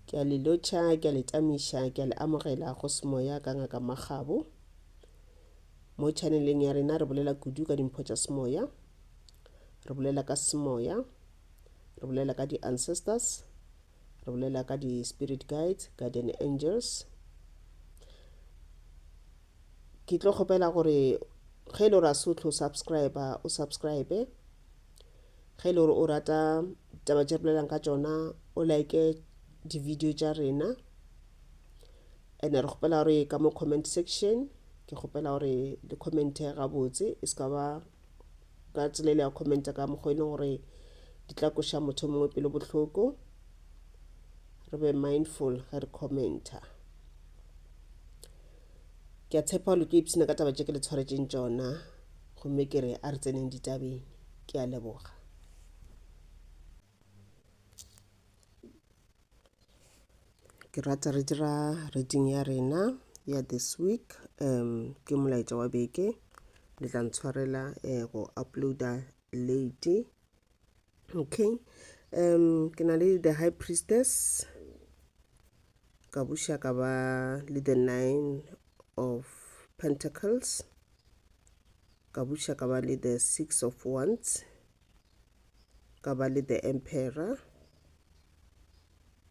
Ke a le lotšha, ke a le tamiša, ke a le amogela go semoya ka Ngaka Makgabo. Mo chaneleng ya rena re bolela kudu ka dimpho tša semoya, re bolela ka semoya, re bolela ka di-ancestors, re bolela ka di-spirit guides, guardian angels. Ke tlo kgopela gore ge e le gore a se o tlo subscribe, o subscribe. Ge e le gore o rata taba tše bolelang ka tšona o like di-video tša rena and re kgopela gore ka mo comment section ke kgopela gore le commente gabotse e se ka ba ka tsela ile ya commenta ka mokgwa e leng gore di tla koša motho mongwe pelo bohloko re be mindful ge re commenta ke a tshepa gore le tlo ipshina ka taba tše ke le tshwaretšeng tšona gomme ke re a re tseneng ditabeng ke a leboga ke rata re dira reading ya rena ya this week um ke molaetša wa beke le tla ntshwarela um go uploada late okay um ke na le the high priestess ka buša ka ba le the nine of pentacles ka buša ka ba le the six of wands ka ba le the emperor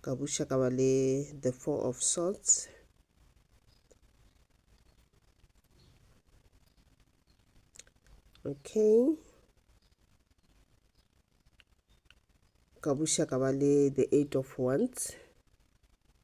ka buša ka ba le the four of swords okay ka buša ka ba le the eight of wands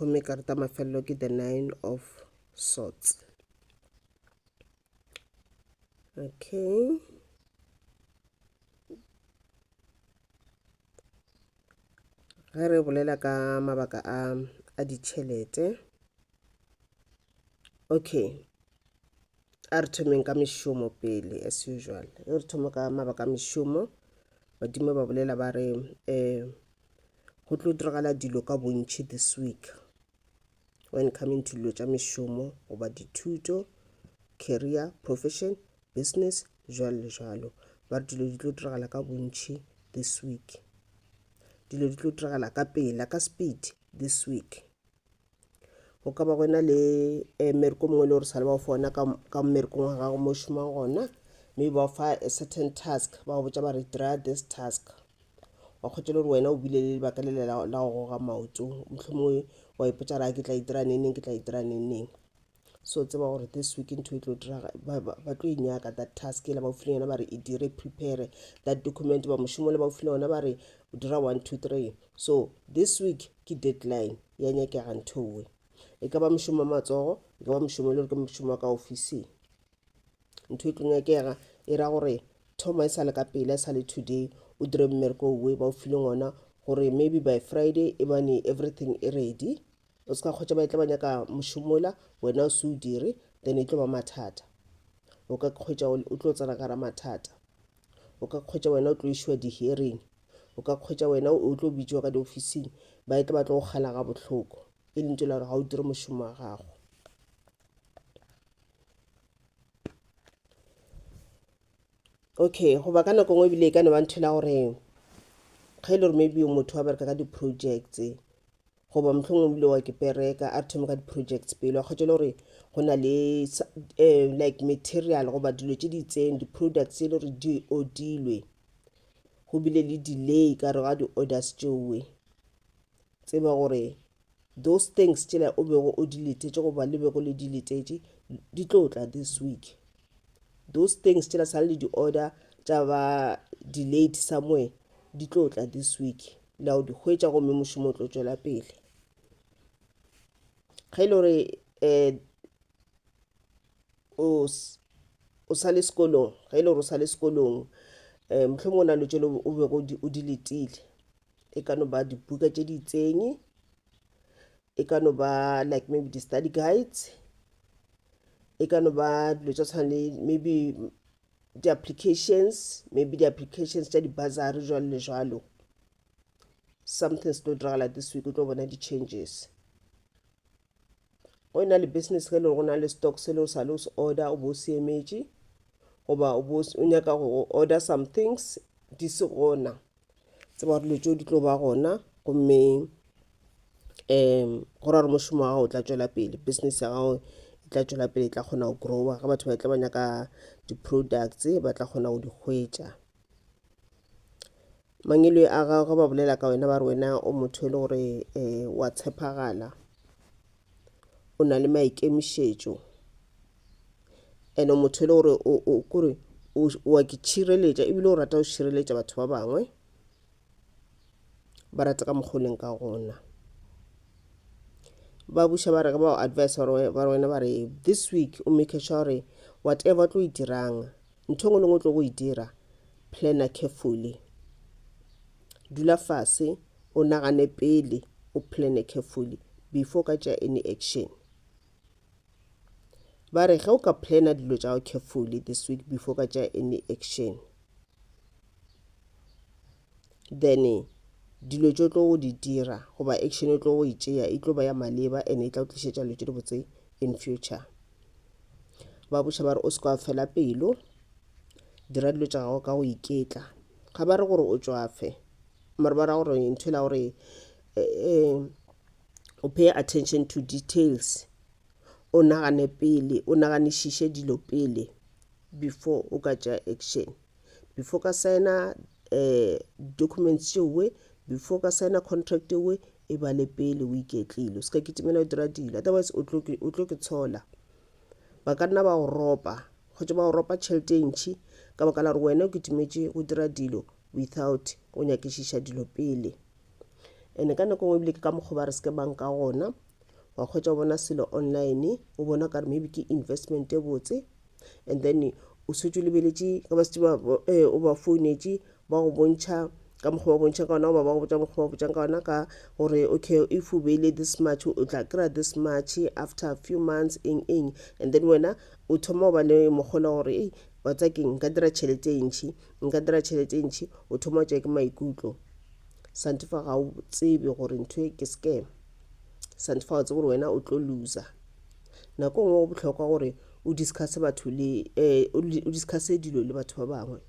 gomme karata mafelelo ke the nine of swords okay ge re bolela ka mabaka a a ditšhelete okay a re thomeng ka mešomo pele as usual e re thoma ka mabaka a mešomo badimo ba bolela ba re um go tlo diragala dilo ka bontšhi this week when coming to dilo tša mešomo goba dithuto career profession business jalo le jalo ba re dilo di tlo diragala ka bontšhi this week dilo di tlo diragala ka pela ka speed this week go ka ba go na le um mmereko mongwe le gore sa le ba fona ka mmerekong wa gago mo šomang gona mme ba fa a certain task ba go botsa ba re dira this task wa kgotsa le gore wena o bile le lebaka le la go goga maoto mohlomongwe wa ipotsa ra ke tla itira neneng ke tla itira neneng so tseba gore this week ntho e tlo diraga ba tlo e nyaka that task ele ba ofile yona ba re e dire prepare that document ba mošomo le ba ofile yona ba re dira one two three so this week ke deadline ya nyakega nthowe e ka ba mošomo wa matsogo e ka ba mošomo e le gore ke mošomo wa ka ofising ntho e tlo nyakega e ra gore thoma e sa le ka pele e sa le today o dire mmereko owe ba ofile ngona gore maybe by friday e bane everything e ready O se ka kgotša ba e tla ba nyaka mošomola, wena o se o dire, then e tlo ba mathata. O ka kgwetša o tlo tsena ka ra mathata. O ka kgwetša wena o tlo išiwa di-hearing. O ka kgwetša wena o tlo bitšiwa ka diofising, ba e tla ba tlo go gana ga bohloko, e lentše la gore ga o dire mošomo wa gago. okay goba ka nako ngwe ebile e ka ne ba ntho la gore ge e le gore maybe motho wa bereka ka di-projects goba mohlong o bile wa ke pereka a re thome ka di-projects pele wa kgotšele gore go na le um like material goba dilo tše di itseng di-products e le gore di odilwe go bile le delay ka re ga di-orders tšeowe tseba gore those things tšela o bego o di letetše goba le bego le di letetše di tlo tla this week those things tšela sa le di-order tša ba delayed somewhere di tlo tla this week la o di hwetša gomme mošomo o tlo tšwela pele ge e le gore um o sa le sekolong ge e le gore o sa le sekolong um mohlomong o na le tšelo o bego o di letile e ka no ba dibuka tše di itseng e ka no ba like maybe di-study guides e ka no ba dilo tša tshwana le maybe di applications maybe di applications tša di bursary jwalo le jwalo something se tlo diragala this week o tlo bona di changes go e na le business ge e le go na le stock se le o sa le o se order o bo o se emetše goba o nyaka go order some things di se gona tseba gore dilo tšeo di tlo ba gona gomme um go ra gore mošomo wa gago o tla tšwela pele business ya gago e tla tšwela pele e tla kgona go grower ge batho ba tla ba nyaka di-products ba tla kgona go di hwetša mangelo a gago ge ba bolela ka wena ba re wena o motho e le gore um wa tshepagala o na le maikemišetšo ene motho e le gore kore wa ke tšhireletša ebile o rata go tšhireletša batho ba bangwe ba rata ka mokgoleng ka gona ba buša ba re ka bao advice ba wena ba re this week o make sure gore whatever tlo e dirang ntho ngwe le ngwe tlo go e dira planner carefully dula fase O nagane pele o plane carefully before o ka tšea any action. Ba re ge o ka plana dilo tša gago carefully this week before o ka tšea any action then dilo tšo tlo go di dira goba action e tlo go e tšea e tlo ba ya maleba and e tla o tlišetša dilo tše dibotse in future ba boša ba re o se ka fela pelo dira dilo tša gago ka go iketla ga ba re gore o tšwafe mare ba ra gore ntho e la gore um o pay attention to details o nagane pele o naganišiše dilo pele before o ka tšea action before ka signa um documents tšeoe before ka signa contract ewe e ba le pele o iketlile o se ka kitimela o dira dilo otherwise o tlo ke tshola ba ka nna ba go ropa kgotsa ba go ropa tšhelete e ntšhi ka baka la gore wena o kitimetše go dira dilo without go nyakišiša dilo pele ene ka nako ngwe ebile ke ka mokgwa ba re seke bang ka gona wa kgwetsa o bona selo online o bona kare maybe ke investment e botse and then o swetse o lebeletše ka ba setse eh, o ba founetše ba go bontšha ka mokgwa ba bontšhang ka ona goba ba go botsa mokgwa ba botsang ka ona ka gore okay if o beile this much o tla kry-a this much after a few months eng eng and then wena o thoma go ba le mokgola gore ei wa tsa keng nka dira tšhelete e ntšhi Nka dira tšhelete e ntši. O thoma wa tšwa ke maikutlo. Santifa ga o tsebe gore ntho e ke scam. Santifa o tsebe gore wena o tlo looser. Nako e nngwe go bohlokwa gore o discuss batho le eh, o discuss dilo le batho ba bangwe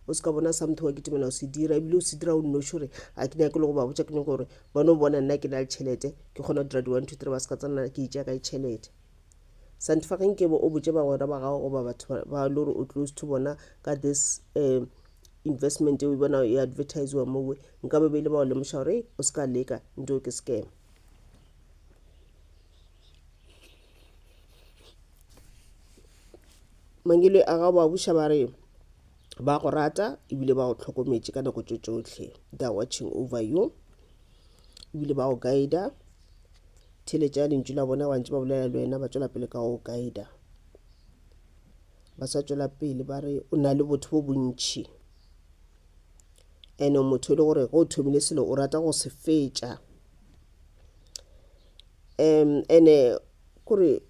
o se ka bona something wa kitimela o se dira ebile o se dira o nnoši gore a ke nyake le go ba botša ke nyake gore ba no bona nna ke na le tšhelete ke kgona go dira di-one two three ba se ka tsena ke itšea ka tšhelete Santifageng ke bo o botše bagwera ba gago goba batho ba le gore o close to bona ka this um investment eo bona e advertisiwa mowe nka be beile ba go lemoša gore o se ka leka nto ke scam mangele a gago ba buša ba re ba go rata ebile ba go tlhokometše ka nako tše tšohle they're watching over you ebile ba go guida theletša lentšu la bona wantse ba bolela le wena ba tswela pele ka go guida ba sa tswela pele ba re o na le botho bo bontšhi ene motho e le gore ge o thomile selo o rata go se fetša um ene kore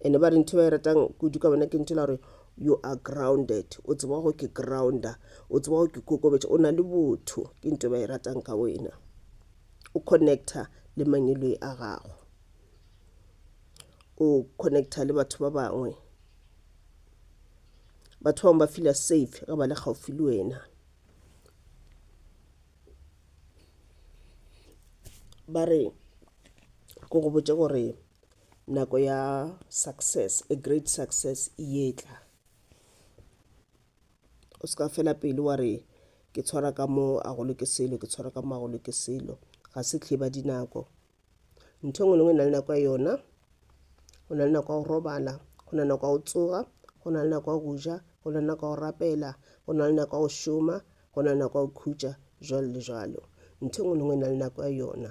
ene ba re ntho ba e ratang kudu ka bona ke ntho la gore you are grounded o tseba go ke grounder o tseba go ke kokobetša o na le botho ke ntho ba e ratang ka wena o connecta le mangiloi a gago o connecta le batho ba bangwe batho bangwe ba fila safe ge ba le gaufi le wena ba re ke go botše gore nako ya success a great success e etla o se ka fela pelo wa re ke tshwara ka mo a golo ke selo ke tshwara ka mo a golo ke selo ga se tlhiba dinako ntho engwe le ngwe e na le nako ya yona go na le nako ya go robala go na le nako ya go tsoga go na le nako ya go ja go na le nako ya go rapela go na le nako ya go šoma go na le nako ya go khutša jalo le jalo ntho engwe le ngwe e na le nako ya yona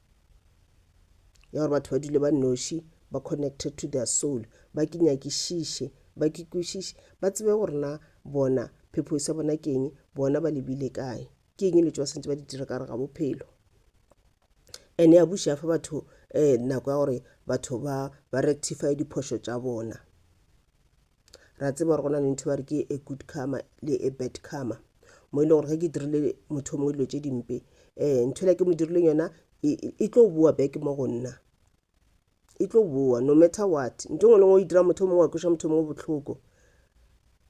ya gore batho ba dule ba noši ba connected to their soul ba ke nyakišiše ba ke kwešiše ba tsebe gore na bona phepho sa bona ke eng bona ba lebile kae ke eng le tšwa sentse ba di dira ka re ga bophelo ene ya buša fa batho um nako ya gore batho ba ba rectify diphošo tša bona ra tseba gore go na le ntho ba re ke a good karma le a bad karma mo e le gore ge ke dirile motho mongwe dilo tse dimpe um ntho ela ke mo dirileng yona e, e, e tlo boa back mo go nna e tlo boa no matter what nto ngwe lengwe o e dira motho mongwe wa kweša motho mongwe bohloko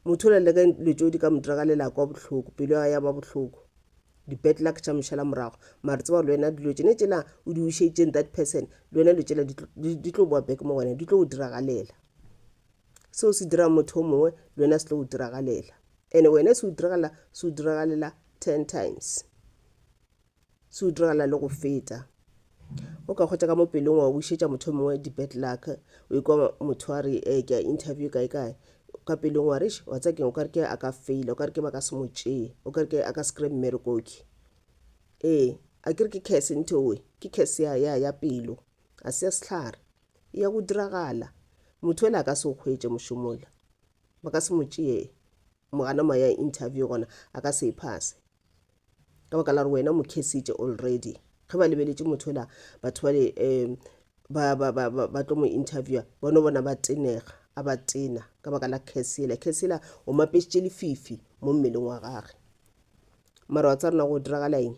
motho o leleka dilo tšeo di ka mo dira ka lelako wa bohloko pelo ya ya ba bohloko di-bad luck tša mošala morago mare tseba le wena dilo tšene tšela o di wišeditseng that person le wena dilo tšela di tlo boa back mo wena di tlo o diragalela Seo se dira motho o mongwe le wena se tlo go diragalela. Ene wena se o diragala, se o diragalela ten times. Se o diragala le go feta. O ka kgwetša ka mo pelong wa wišetša motho o mongwe di-bad luck, o ikwa motho a re eh, ke a interview kae kae, ka pelong wa re eish, wa tseba keng, o ka re ke a ka faila, o ka re ke ba ka se mo tšee, o ka re ke a ka se kry-e mmerekoki. Ee, a ke re ke curse ntheoe, ke curse ya, ya, ya pelo, ga se ya sehlare. e ya go diragala. Motho yola a ka se go hwetše mošomo wola. Ba ka se mo tšee mogana moya interview gona a ka se e phase. Ka baka la gore wena mo khesitše already. Ge ba lebeletše motho yola batho bale um ba ba ba ba ba tlo mo interviewer ba no bona ba tenega a ba tena ka baka la curse yela. Curse yela o mapešitše lefifi mo mmeleng wa gage. Mara wa tsa rena go diragala eng?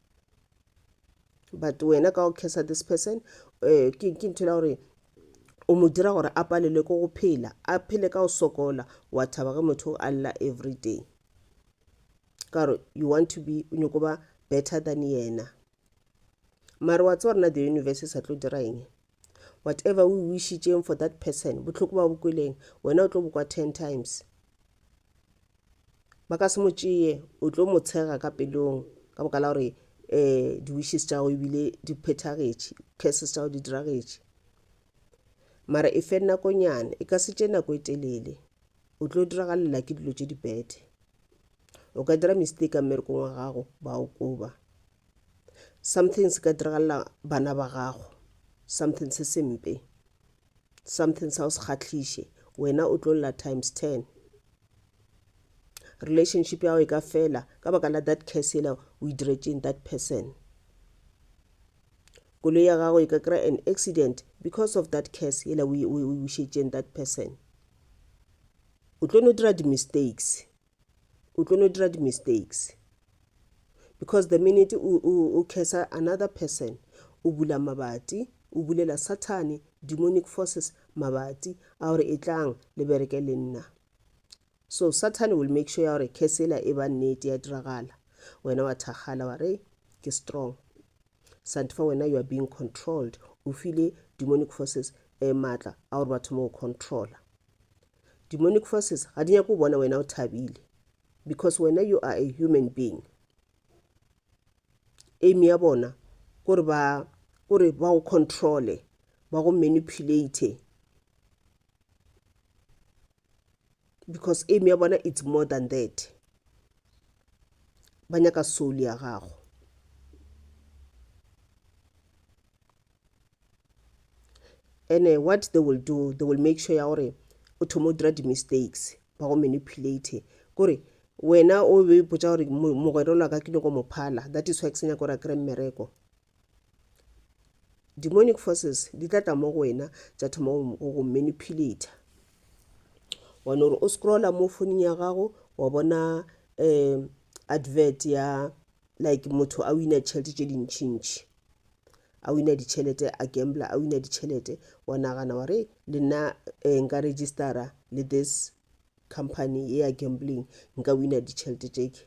but wena ka go cursa this person um ke ntho la gore o mo dira gore a palelwe ke go phela a phele ka go sokola wa thaba ge motho a lla every day ka gore you want to be o nyoko ba better than yena mare wa tse gore na the universe e sa tlo dira eng Whatever o e wishitšeng for that person, bohloko ba o bo kweleng, wena o tlo bo kwa ten times. Ba ka se mo tšeye, o tlo mo tshega ka pelong ka boka la gore um di-wishes tša gago ebile di phethagetše, curses tša gago di diragetše. Mara e fe nakonyana, e ka se tše nako e telele, o tlo diragalela ke dilo tše di-bad. O ka dira mistake ka mmerekong wa gago, ba o koba. something se ka diragalela bana ba gago something se sempe something sa o se kgatlhiše wena o tlo lla times ten relationship ya gago e ka fela ka baka la that case yela o e diretseng that person koloi ya gago e ka kry an accident because of that case yela o e bušetšeng that person o tlo no dira di-mistakes o tlo no dira di-mistakes because the minute o, o, o cursa another person o bula mabati o bulela sathane demonic forces mabati a gore e tlang le bereke le nna so sathane will make sure ya gore curse ela e ba nnete ya diragala wena wa thakgala wa re ke strong santifa wena you are being controlled o file demonic forces um maatla a gore ba thoma go controlla Demonic forces ga di nyake go bona wena o thabile because wena you are a human being. Aim ya bona gore ba gore ba go controle ba go manipulate because aim ya bona it's more than that ba nyaka soul ya gago and uh, what they will do they will make sure ya gore o thoma o dira di-mistakes ba go manipulate kore wena o be ipotsa gore mogwera ola ka ke nyoko mophala that is why ke senya gore a kry mmereko demonic forces di tla tla mo go wena tsa thoma go manipulate wa no gore o scrolla mo foning ya gago wa bona um advert ya like motho a wina tšhelete tše dintšhintšhi a wina ditšhelete a gambla a wina ditšhelete wa nagana wa re le nna eh, nka registera le this company ye ya gambling nka wina ditšhelete tšeke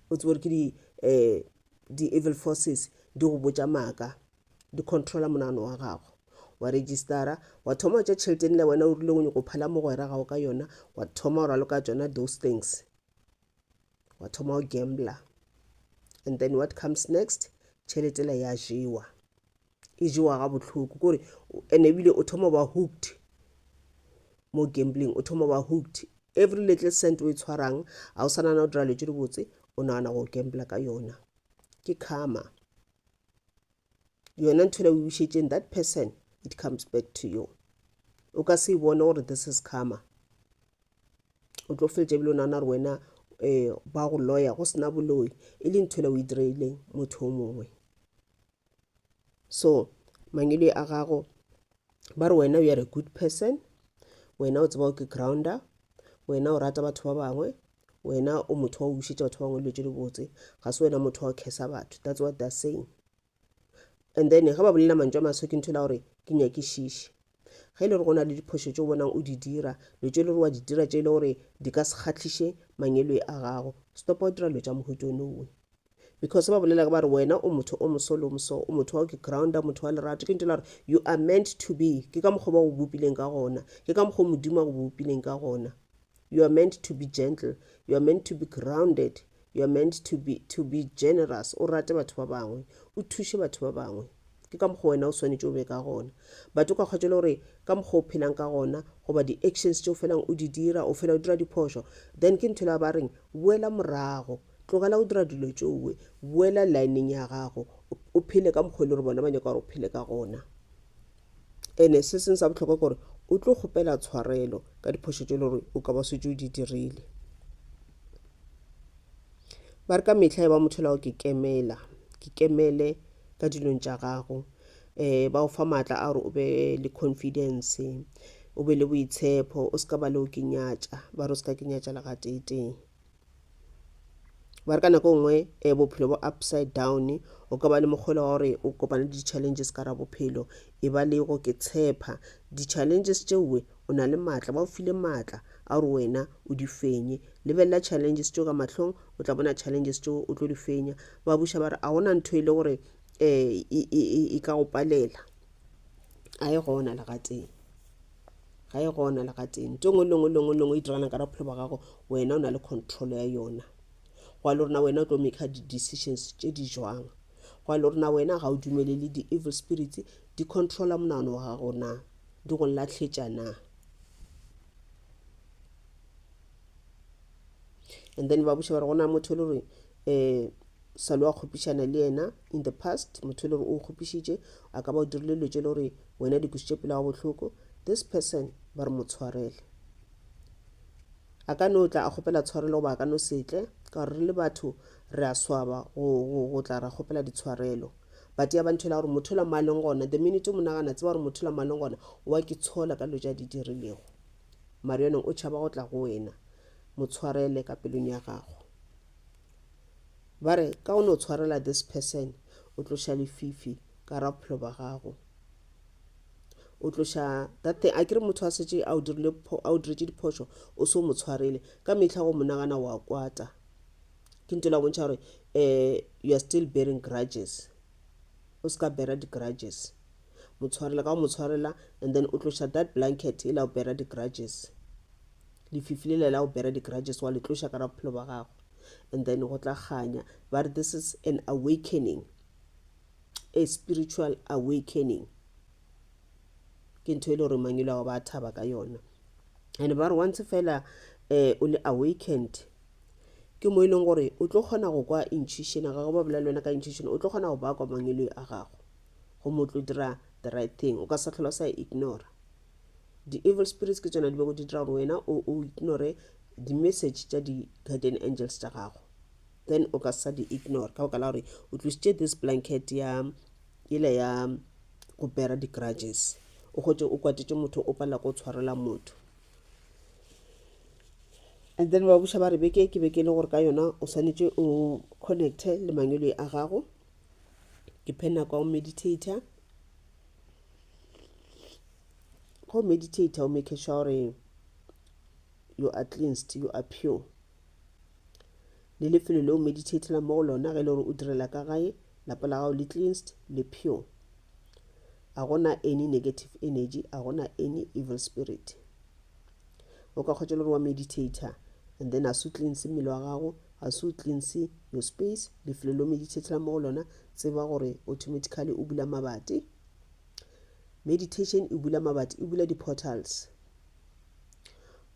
o tsebo gore ke di eh, di-evil forces di go botša maaka di controla monagano wa gago wa registera wa thoma wa tša tšheleteng le wena o rile o nyoko phela mogwera gago ka yona wa thoma o raloka tsona those things wa thoma o gambla and then what comes next tšheletela ya jewa e jewa ga bohloko kore and ebile o thoma ba hooked mo gambling o thoma ba hooked every little cent o e tshwarang ga o sanana o dira letse dibotse o nagana go gambla ka yona ke karma yona ntho la o bušetšeng that person it comes back to you o ka se bone gore this is karma o tlo feletša bile o nagana gore wena um ba go lawyer go sena boloi e le ntho la o e direileng motho o mongwe so mangelo a gago ba re wena you are a good person wena o tseba o ke grounder wena o rata batho ba bangwe wena o motho wa go bušetša batho ba bangwe dilo tše di botse ga se wena motho wa go khesa batho that's what they're saying and then ge ba bolela mantšu a maswe ke ntho la gore ke nyakišiše ge e le gore go na le diphošo tse o bonang o di dira dilo tse e le gore wa di dira tše e le gore di ka se kgatlhiše mangeloi a gago stopa o dira dilo tša mohuto nowe because ba bolela ba re wena o motho o moso le o moso o motho wa ke grounder motho wa lerato ke ntela gore you are meant to be ke ka mokgwa ba go bopileng ka gona ke ka mokgwa modimo a go bopileng ka gona you are meant to be gentle you are meant to be grounded you are meant to be, to be generous o rate batho ba bangwe o thuše batho ba bangwe ke ka mokgwa wena o swanetše o be ka gona but o ka kgwatšwa le gore ka mokgwa o phelang ka gona goba di-actions tše o felang o di dira o fela o dira diphošo then ke ntho la ba reng boela morago Tlogela go dira dilo tšowe. Boela lineng ya gago. O phele ka mokgwa e le gore bona ba nyaka gore o phele ka gona. Ene se seng sa bohlokwa ke gore o tlo kgopela tshwarelo ka diphošo tše le gore o ka ba swetše o di dirile. Ba re ka mehla e ba motho lago ke kemela, ke kemele ka dilong tša gago. Um ba o fa maatla a gore o be le confidence, o be le boitshepo, o se ka ba leo ke nyatša, ba re o se ka ke nyatša le gateetee. ba re ka nako nngwe um bophelo bo upside down o ka ba le mokgwela wa gore o kopane le di-challenges ka ra bophelo e ba le go ke tshepa di-challenges tšeoe o na le maatla ba o file maatla a gore wena o di fenye lebelela challenges tšeo ka mahlong o tla bona challenges tšeo o tlo di fenya ba buša ba re a gona ntho e le gore um e ka go palela a e gona legateng ga e gona le gatee nto ngwe lengwe lengwe lengwe e dirana ka bophelo ba gago wena o na le control ya yona go le rona wena o tlo make di-decisions tše di jwang go le rona wena ga o dumelele di-evil spirits di controla monano wa gago na di go latlhetša na and then ba boša ba re gona motho le gore um sa le wa kgopišana le yena in the past motho e le gore o kgopišitše a ka ba o dirile dilo tše le gore wena di kwešiše pelo ga bohloko this person ba re mo tshwarele a ka no tla a kgopela tshwarelo goba a ka no setle ka gore re le batho re a swaba go tla ra kgopela ditshwarelo but ya ba ntho e la gore motho la maleng gona the minute o monagana tseba gore motho la maleng gona wa ke tshola ka dilo tša di dirilego mare yoneng o tšhaba go tla go wena motshwarele ka pelong ya gago ba re ka o no tshwarela this person o tloša lefifi ka ra bophelo ba gago o tloša that thing a ke re motho a setse a o diretše diphošo o se o mo tshwarele ka mehla go mo nagana wa kwata ke nto la bontšha gore um you are still bearing grudges o se ka bera di-grudges motshwarela ka go motshwarela and then o tloša that blanket e la o bera di-grudges Lefifi lele la go bera di grudges wa le tloša ka ra bophelo ba gago and then go tla kganya ba re this is an awakening a spiritual awakening ke ntho e le gore mangelo a go ba thaba ka yona and ba re once fela eh, o le awakened ke mo e leng gore o tlo kgona go kwa intuition ga go ba bolela wena ka intuition o tlo kgona go ba kwa mangeloi a gago go mo tlo dira the right thing o ka sa tlhola sa ignora di evil spirits ke tsona di bego di dira gore wena o o ignore di message tša di guardian angels tša gago then o ka sa di ignore ka baka la gore o tlisitše this blanket ya ile ya go bera di grudges o gotse o kwatetše motho o palela ko tshwarela motho and then ba buša ba re beke ke beke le gore ka yona o swanetše o connecte le mangwele a gago ke phena kwa o meditator go meditate o make sure gore you are cleansed you are pure le lefelo le o meditatela mo go lona ge e le gore o direla ka gae lapa la gago le cleansed le pure a gona any negative energy a gona any evil spirit o ka kgotša le gore wa meditator and then a se o cleanse mmele wa gago a se o cleanse your space lefelo le o meditatela mo go lona tseba gore automatically o bula mabati meditation e bula mabati e bula di-portals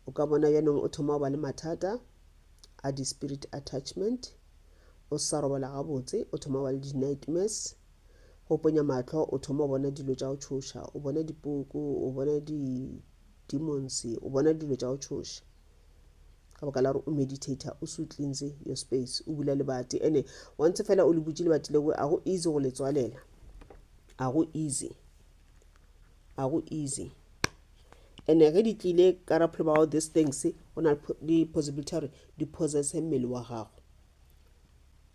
o ka bona bjanong o thoma go ba le mathata a di-spirit attachment o sa robala gabotse o thoma go ba le di-nightmares go ponya matlho o thoma go bona dilo tša go tshoša o bona dipoko o bona demonse o bona dilo tša go tšhoša ka baka la gore o meditator o se o cleanse your space o bula lebati ene once fela o le butše lebati leo a go easy go le tswalela a go easy a go easy ene ge di tlile ka raphelo ba gago these things go na le possibility gore di possesse mmele wa gago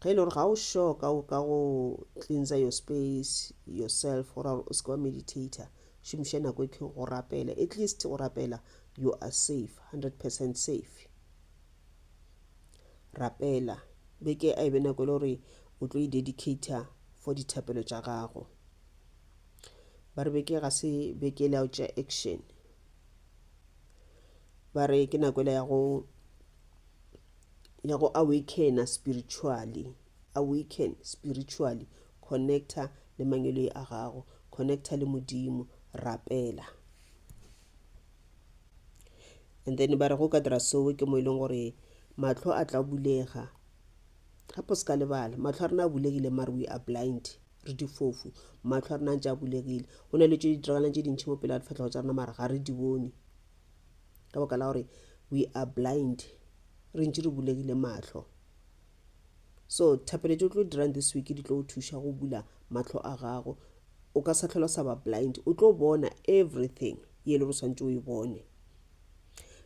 ge e le gore ga o sure ka go ka go cleanser your space yourself gore o se ka wa meditator šomiša nako e go rapela at least go rapela you are safe 100% safe rapela beke a e be nako e le gore o tlo e dedicator for dithapelo tša gago ba re beke ga se beke le ao tša action ba re ke nako e le ya go ya go awakena spiritually, awaken spiritually, connecta le mangweloi a gago, connecta le Modimo, rapela. And then ba re go ka dira sowe ke mo e leng gore mahlo a tla bulega gape se ka lebala mahlo a rena a bulegile mare we are blind re difofu mahlo a rena a ntse a bulegile go na le tse di diragalang tse dintšhi mo pele ga difatlhego tsa rena mara ga re di bone ka baka la gore we are blind re ntši re bulegile mahlo so thapelo tse o tlo dirang this week di tlo go thuša go bula mahlo a gago o ka sa tlhola sa ba blind o tlo bona everything ye e le go swantse o e bone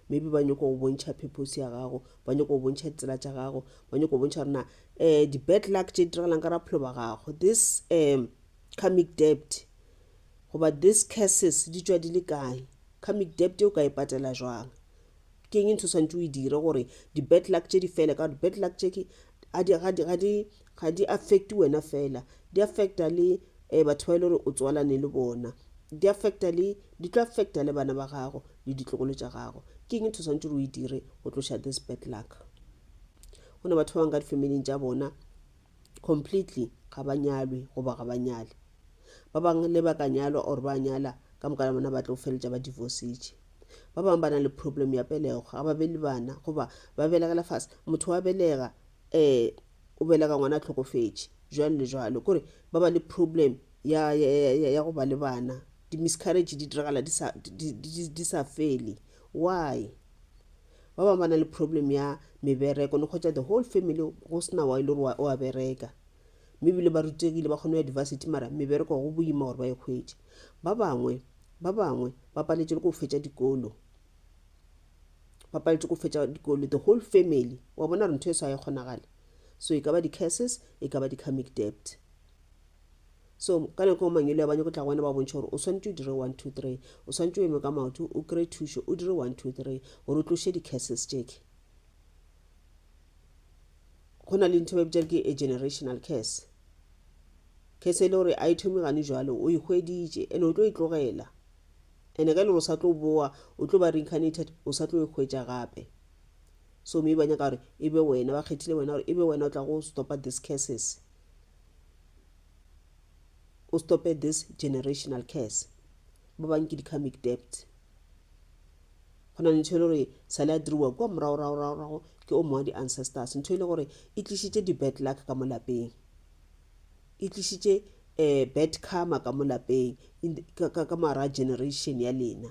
maybe ba nyoko go bontšha purpose ya gago ba nyoko go bontšha ditsela tša gago ba nyoko go bontšha gore na um di-bad luck tše di diregelang ka rapholo ba gago this um karmic debt goba this curses di tšwa di le kae karmic debt o ka e patela jwang ke eng ntho swantse o e dire gore di-bad luck tše di fele ka gore di-bad luck tše ga di affect wena fela di affecta le um batho ba e le gore o tswalane le bona di affecta le di tlo affecta le bana ba gago le ditlogolo tša gago ke eng ntho swantse o e dire go tloša this bad luck go ne batho ba bangwe ka di-familing tša bona completely ga ba nyalwe goba ga ba nyale ba bangwe le ba ka nyalwa or ba nyala ka moka bona ba tlo feletša ba divorcetše ba bangwe ba na le problem ya pelego ga ba be le bana goba ba belegela fase motho wa belega um o belega ngwana a tlhokofetše jalo le jalo kore ba ba le problem ya, ya, ya, ya, ya go ba le bana di-miscarriage di diragala di sa, di, di, di, di sa fele why ba bangwe ba na le problem ya mebereko ne kgwetsa the whole family go sena wa e le gore o a bereka mme ebile ba rutegile ba kgone go ya diversity mara mebereko go boima gore ba e kgwetše ba bangwe ba bangwe ba paletše le go fetša dikolo ba paletše go fetša dikolo the whole family wa bona re ntho e sa e kgonagale so e ka ba di-curses e ka ba di-comic debt so ka nako o mangelo ya ba nyako tla go wena ba bontšha gore o swanetše o dire one two three o swanetše o eme ka maoto o kry thušo o dire one two three gore o tloše di-cases tšeke go na le ntho ba bitša ke a generational case case e le gore a e thomi gane jalo o ikgweditše e ande o tlo e tlogela ande ka e le gore o sa tlo boa o tlo ba reincarnated o sa tlo e hwetša gape so mme ba nyaka gore e be wena ba kgethile wena gore e be wena o tla go stopa this cases o stope this generational curse ba bang ke di-karmic debt go na le ntho e le gore sale a diriwa kua moragoragoragorago ke o mongwe wa di-ancestors ntho e le gore e tlišitše di-bad luck ka mo lapeng e tlišitše um bad karma ka mo lapeng ka mara generation ya lena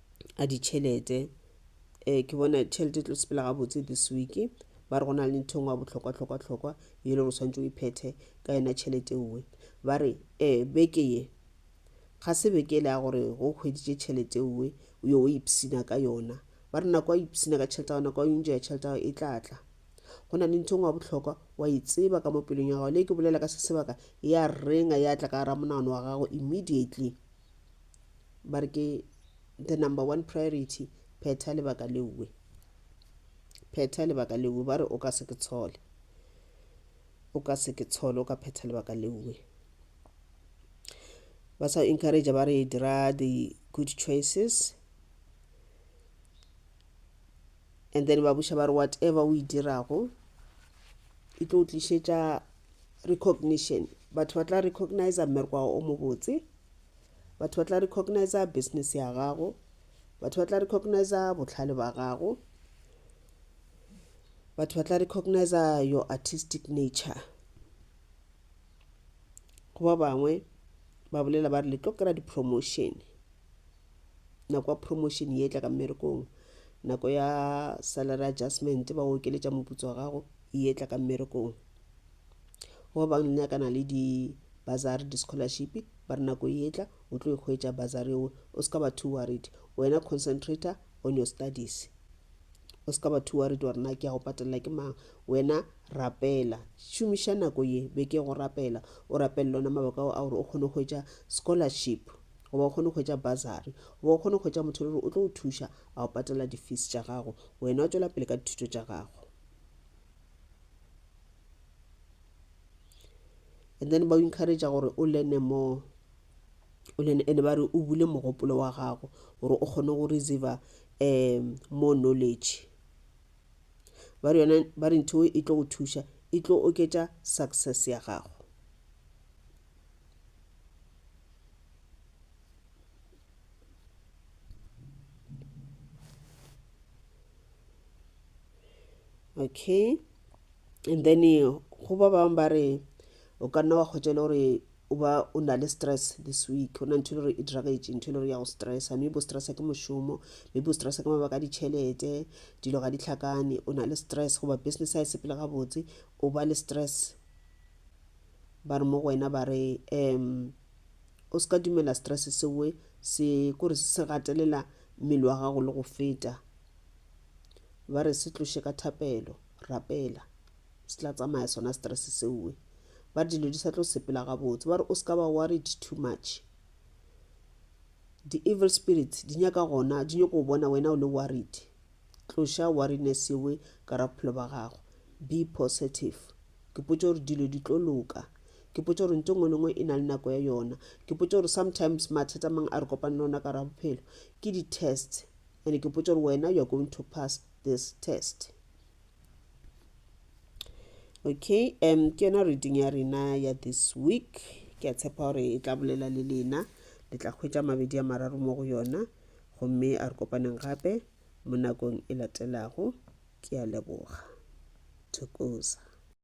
a ditšhelete um ke bona tšhelete e tlo sepela gabotse this week ba re go na le ntho engwe ya bohlokwa-hlokwa-hlokwa e le gore tshwanetse o iphethe ka yona tšhelete ewe ba re um beke ye ga se beke e le ya gore go hweditše tšhelete ewe o yo o ipsina ka yona ba re nako ya ipsina ka tšhelete ga nako ya ntšo ya tšhelete gago e tla tla go na le ntho engwe ya bohlokwa wa e tseba ka mo pelong ya gago le ke bolela ka se sebaka ya renga ya tla ka gara monagano wa gago immediately ba re ke the number one priority phetha lebaka leuwe phetha lebaka leuwe ba re o ka se ke tshole o ka se ke tshole o ka phetha lebaka leuwe ba sa encourage ba re dira the good choices and then ba buša ba re whatever o e dirago e tlo tlišetša recognition batho ba tla recognizer mmereko wa gago o mobotse batho ba tla recognizer business ya gago batho ba tla recognizer botlhale ba gago batho ba tla recognizer your artistic nature go ba bangwe ba bolela ba re le tlo kry-a di-promotion nako ya promotion ye tla ka mmerekong nako ya salary adjustment ba okeletša moputso wa gago ye tla ka mmerekong go ba bang nyakana le di bazari di scholarship ba re nako e etla o tlo ikgwetša bazari o o ska ba too worried wena concentrator on your studies o ska ba too worried gore na ke ya go patelela ke mang wena rapela šomiša nako ye be ke go rapela o rapelele ona mabaka ao a gore o kgone go hwetša scholarship goba o kgone go hwetša bazari goba o kgone go hwetša motho le gore o tlo o thuša a go patelela di-fees tša gago wena o tšwela pele ka dithuto tša gago and then ba encouragea gore o learne more o learne and ba re o bule mogopolo wa gago gore o kgone go receiver um more knowledge ba re yone ba re ntho e tlo go thuša e tlo oketša success ya gago okay and then go ba bangwe ba re o ka nna wa kgwetša le gore o ba o na le stress this week o na ntho e le gore e diragetse ntho e le gore ya go stressa maybe o stressa ke mošomo maybe o stressa ke mabaka a ditšhelete dilo ga di tlhakane o na le stress goba business a e sepele gabotse o ba le stress ba re mo go wena ba re um O se ka dumela stress se we se kore se se gatelela mmele wa gago le go feta. Ba re se tloše ka thapelo, rapela. Se tla tsamaya sona stress se we. Ba dilo di sa tlo sepela gabotse. Ba re o se ka ba worried too much. Di evil spirits di nyaka gona di nyoko bona wena o le worried. Tloša worriness yewe ka ra bophelo ba gago. Be positive. Ke potše gore dilo di tlo loka. Ke potša gore ntho engwe le engwe e na le nako ya yona. Ke potša gore sometimes mathata mang a re kopane le ona ka ra bophelo ke di-test and ke potša gore wena you are going to pass this test okay um ke yona reading ya rena ya this week ke a tshepa gore e tla bolela le lena le tla hwetša mabedi a mararo mo go yona gomme a re kopaneng gape mo nakong e latelago ke a leboga thokoza